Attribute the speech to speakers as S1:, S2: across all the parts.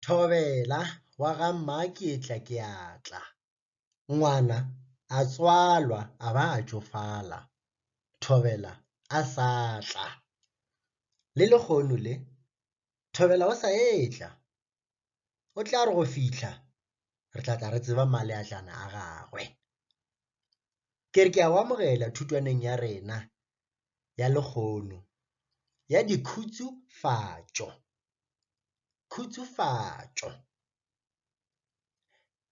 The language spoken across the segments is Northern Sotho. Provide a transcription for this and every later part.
S1: Thobela wa ga Mmaketla ke a tla. Ngwana a tswalwa a ba a tšofala, Thobela a sa tla. Le lehono le, Thobela o sa etla. O tla re go fihla re tla tla re tseba maleatlana a gagwe. Ke re ke a go amogela thutwaneng ya rena ya lehono ya dikhutšofatšo, khutšofatšo.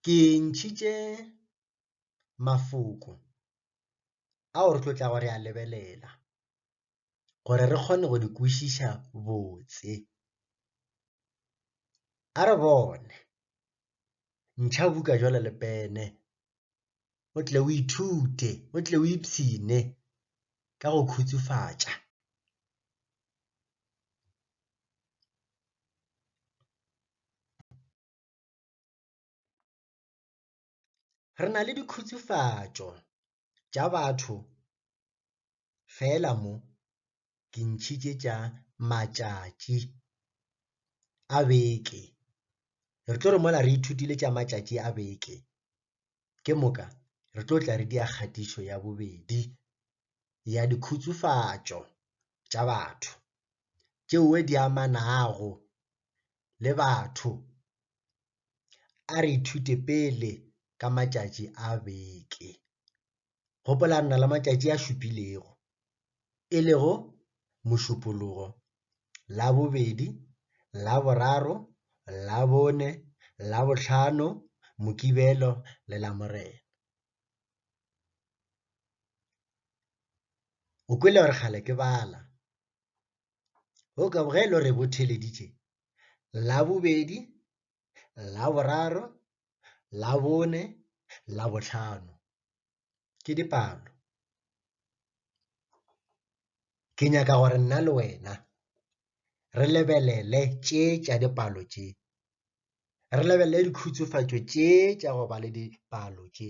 S1: Ke ntšhitše mafoko ao re tlo tla go re a lebelela gore re kgone go di kwešiša botse. A re bone, ntšha buka jwale le pene. o tle o ithute, o tle o ipshine ka go khutsufatša. Re na le dikhutsufatšo tša batho Feela mo ke ntšhitše tša matšatši a beke. Re tlo re mola re ithutile tša matšatši a beke, ke moka re tlo tla re dia kgatišo ya bobedi ya dikhutsofatšo tša batho tšeoe di amanago le batho. A re ithute pele ka matšatši a beke. gopola re na le matšatši a šupilego, e lego Mošupologo, Labobedi, Laboraro, Labone, Labohlano, Mokibelo le Lamorena. O kwele gore kgale ke bala. O ka bogelo re botheleditše Labobedi, Laboraro, Labone, Labohlano. Ke dipalo. Ke nyaka gore nna le wena re lebelele tše tša dipalo tše. Re lebelele dikhutsofatšo tše tša go ba le dipalo tše.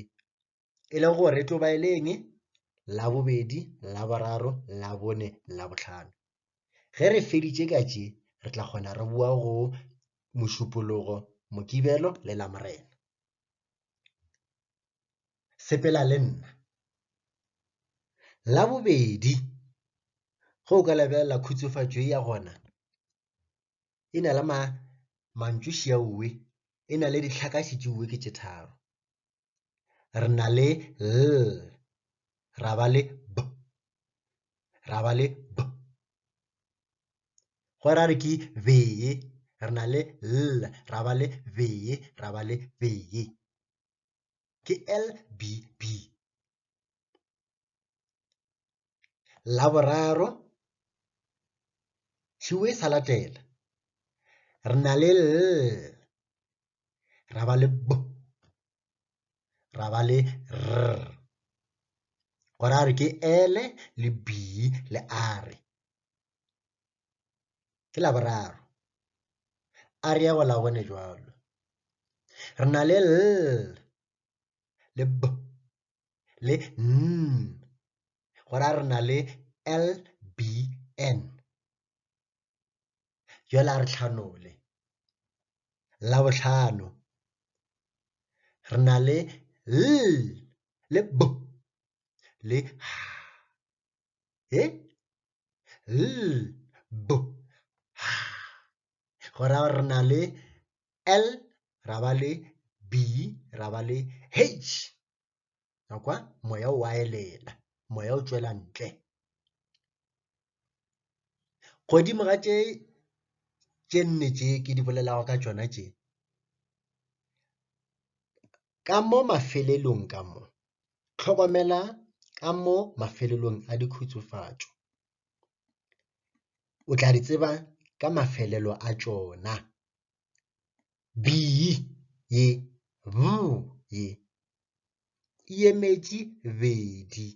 S1: e le gore e tlo ba e le eng labobedi laboraro labone labotlhano ge re feditše ka tše re tla kgona re boa go mošupologo mokibelo le lamorena sepela le nna labobedi ge o ka lebelela khutsofatšo e ya gona e na le ma mantšošiauwe e na le ditlhakaši tšeuwe ke tše tharo re na le l ra ba le b ra ba le b go ra re ke be re na le l ra ba le be ra ba le be ke l b b Laboraro, tšhiwo e sa latela, re na le L, ra ba le B, ra ba le R. Go ra re ke L le B le R. Ke Laboraro. A re ya go la bone jwalo. Re na le L le B le N, go ra re na le LBN. Jola re tlhanole. Labohlano, re na le L le B le H. E? L, B, H. Go ra re na le L ra ba le B ra ba le H ya kwa moya o a elela moya o tswela ntle godimo ga tše tše nne tše ke di bolelago ka tšona tše ka mo mafelelong ka mo hlokomela ka mo mafelelong a dikhutsofatšo o tla di tseba ka mafelelo a tšona. B ye, B ye, e emetše bedi,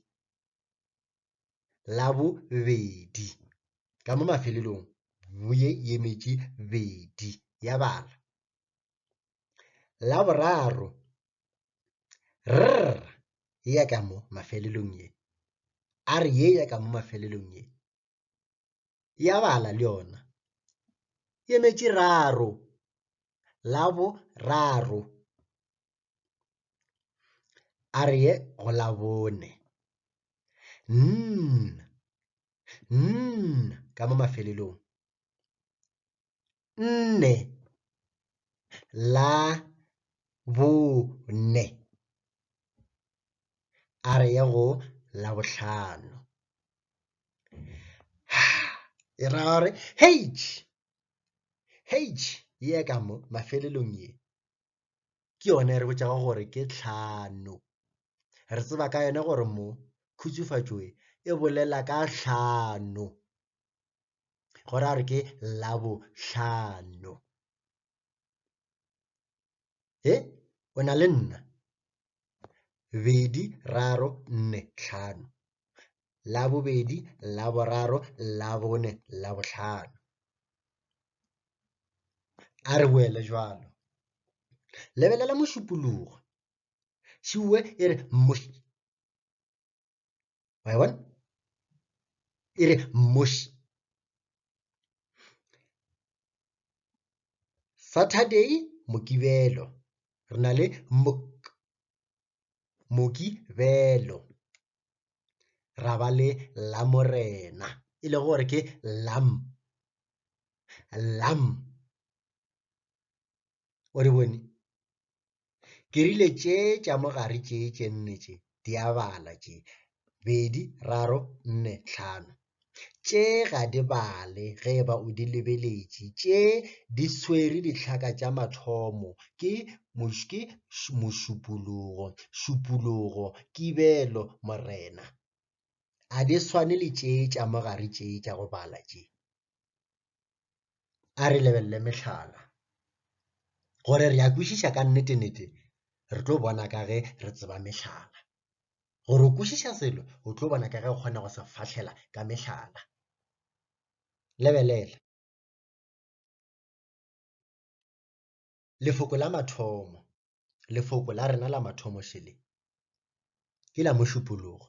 S1: la bo bedi, ka mo mafelelong B ye e emetše bedi, ya bala. La boraro, rr ye ya ka mo mafelelong ye, a re ye ya ka mo mafelelong ye, ya bala le yona, e emetše raro, la boraro. A re ye go la bone, nn, nn ka mo mafelelong, nne la bone a re ye go la bohlano e ra gore heitš heitš ye ka mo mafelelong ye ke yone re botšago gore ke tlhano re tseba ka yone gore mo khutšofatšoe e bolela ka tlhano. go ra gore ke labohlano e o na le nna bedi raro nne tlhano labobedi laboraro labone labohlano a re boele jalo lebelela mošupologo šiwe e re moši wa e bona e re mmoši saturday mokibelo re na le mok mokibelo ra ba le lamorena e le gore ke lam lam o re bone ke rile tše tša mogare tše tše nne tše di a bala tše bedi raro nne tlhano tše ga di bale ge ba o di lebeletše tše di swere ditlhaka tša mathomo ke moške mošupologo šupologo kibelo morena a di swane le tše tša mogare tše tša go bala tše a re lebelele mehlala gore re a kwešiša ka nnete-nnete re tlo bona ka ge re tseba mehlala gore o kwešiša selo o tlo bona ka ge o kgona go se fahlela ka mehlala lebelela Lefoko la mathomo, lefoko la rena la mathomo šele, ke la mošupologo.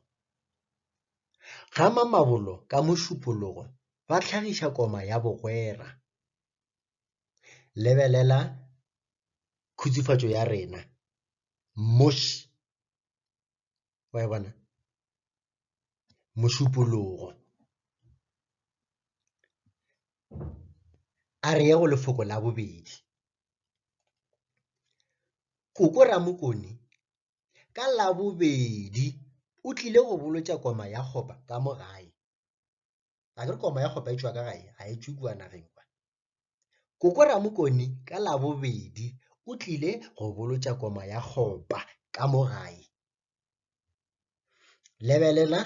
S1: Ga mamabolo ka mošupologo ba tlhagiša koma ya bogwera. Lebelela khutsufatšo ya rena, moši. wa e bona mošupologo a re ye go lefoko la bobedi koko ramokone ka labobedi o tlile go bolotša koma ya kgopa ka mo gae a ke re koma ya kgopa e tšwa ka gae ga e tšwe kua nageng kwa koko ramokoni ka labobedi o tlile go bolotša koma ya kgopa ka mo gae lebelela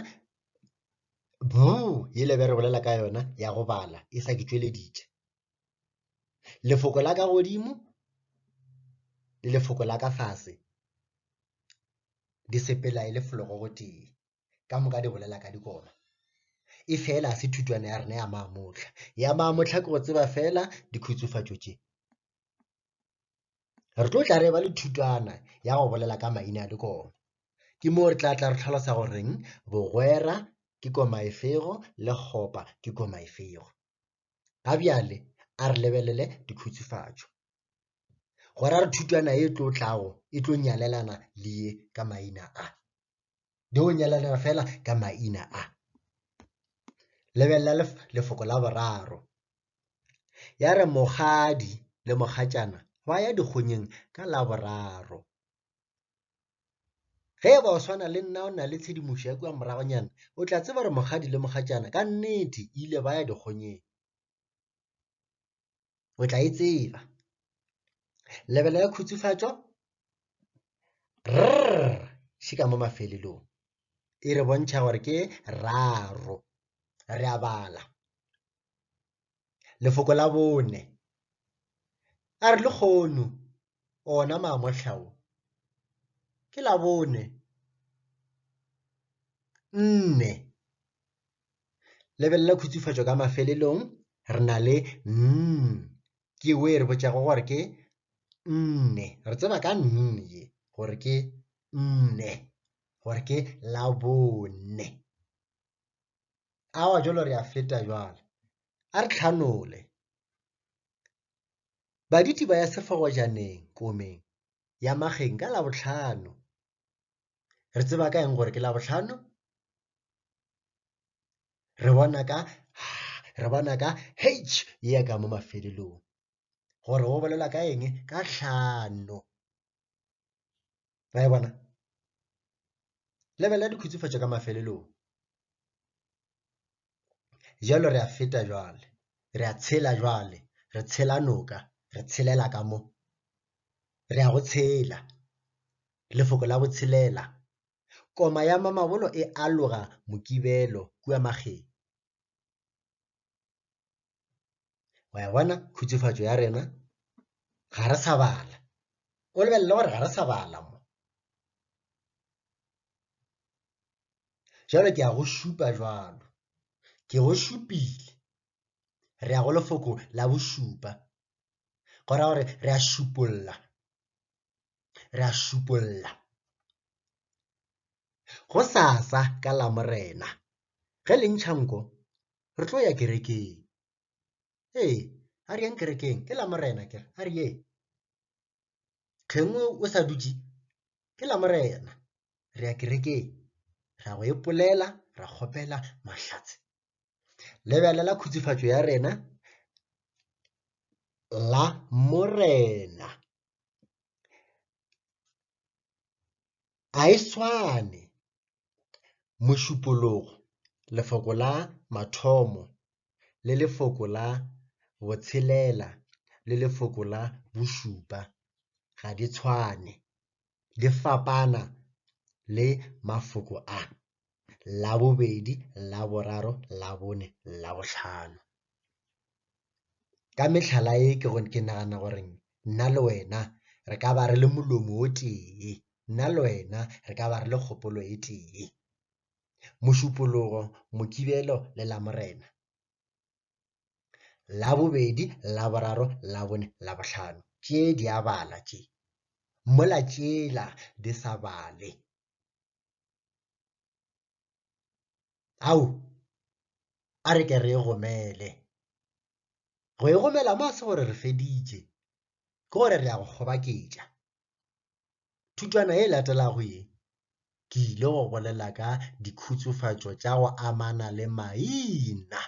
S1: bu ye lebe re bolela ka yona ya go bala e sa ke tšweleditše lefoko la ka godimo le lefoko la ka fase di sepela e le fologo gotee ka moka di bolela ka dikoma e fela se thutwana ya rena ya maamotlha ya maamotlha ke go tseba fela dikhutsofatšo tše re tlo tla re ba le thutwana ya go bolela ka maina a dikoma ke moo re tla tla re tlhalosa goreng bogwera ke koma efego le kgopa ke koma efego ga bjale a re lebelele dikhutsofatšo gora re thutwana e tlo tlago e tlo nyalelana le ye ka maina a di o nyalelera fela ka maina a lebelela lefoko la boraro ya re mogadi le mogatšana ba ya dikgonyeng ka la boraro ge ba o swana le nna o na le tshedimošo ya kua moragonyana o tla tseba gore mogadi le mogatšana ka nnete ile ba ya dikgonyeng o tla e tseba lebelo ya khutsufatšo rr šika mo mafelelong e re bontšha gore ke raro re a bala lefoko la bone a re lekgono ona mamohla wo, ke Labone, nne. Lebelela khutsufatšo ka mafelelong, re na le nn, ke wo e re botšago gore ke nne. Re tseba ka nn ye gore ke nne, gore ke Labone. Awa jalo re a feta jwale. A re tlhanole. Baditi ba ya sefagojaneng komeng ya mageng ka labohlano. Re tseba ka eng gore ke labohlano? Re bona ka re bona ka h ya ka mo mafelelong gore go bolela ka eng ka hlano. ra e bona lebelela dikhutsofatšo ka mafelelong jalo re a feta jwale re a tshela jwale re tshela noka re tshelela ka mo re a go tshela lefoko la botshelela koma ya mamabolo e aloga mokibelo kua mageng wa ya bona khutsofatšo ya rena ga re sa bala o lebelele gore ga re sa bala mo jalo ke a go šupa jalo ke go šupile re ya go lefoko la bošupa go ra gore re a šupolla re a šupolla go sasa ka lamorena ge le ntšha nko re tlo ya kerekeng ee a re yeng kerekeng ke lamorena ke a re yeng tlhengwe o sa dutše ke lamorena re ya kerekeng ra go epolela ra kgopela mahlatse lebelela khutsofatšo ya rena la morena Ga e swane mošupologo lefoko la mathomo le lefoko la botshelela le lefoko la bošupa ga di tshwane, di fapana le mafoko a. Labobedi, Laboraro, Labone, Labohlano. Ka mehlala ye ke go ke nagana gore nna le wena re ka ba re le molomo o tee, nna le wena re ka ba re le kgopolo e tee. Mošupologo, Mokibelo le Lamorena. Labobedi, Laboraro, Labone, Labohlano tše di a bala tše, mola tšela di sa bale. ao a re ke re e gomele go e gomela mo a se gore re feditše ke gore re ya go kgobaketša thutwana e latelago ye ke ile go bolela ka dikhutsofatšo tša go amana le maina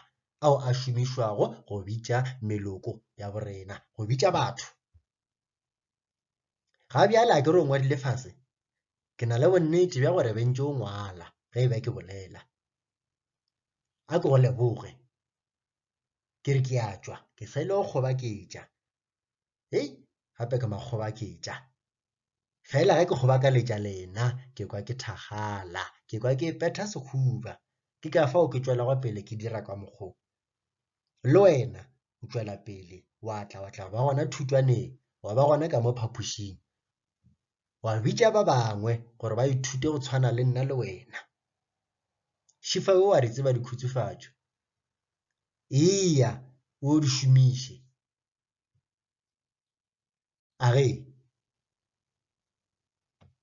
S1: ao a šomišwago go bitša meloko ya borena go bitša batho ga bjale a ke re o ngwadile fase ke na le bonnete bja gore bentse o ngwala ge e be ke bolela a ke go leboge ke re ke a tšwa ke sa ile go kgobaketša hei gape ke makgobaketša fela ge ke kgobakaletša lena ke kwa ke thagala ke kwa ke petha sekhuba ke ka fao ke tšwelago pele ke dira ka mokgwa le wena o tšwela pele wa tla wa tla ba gona thutwaneng wa ba gona ka mo phapošing wa bitša ba bangwe gore ba ithute go tshwana le nna le wena šifa o wa di tseba dikhutsofatšo eya o di šomiše a re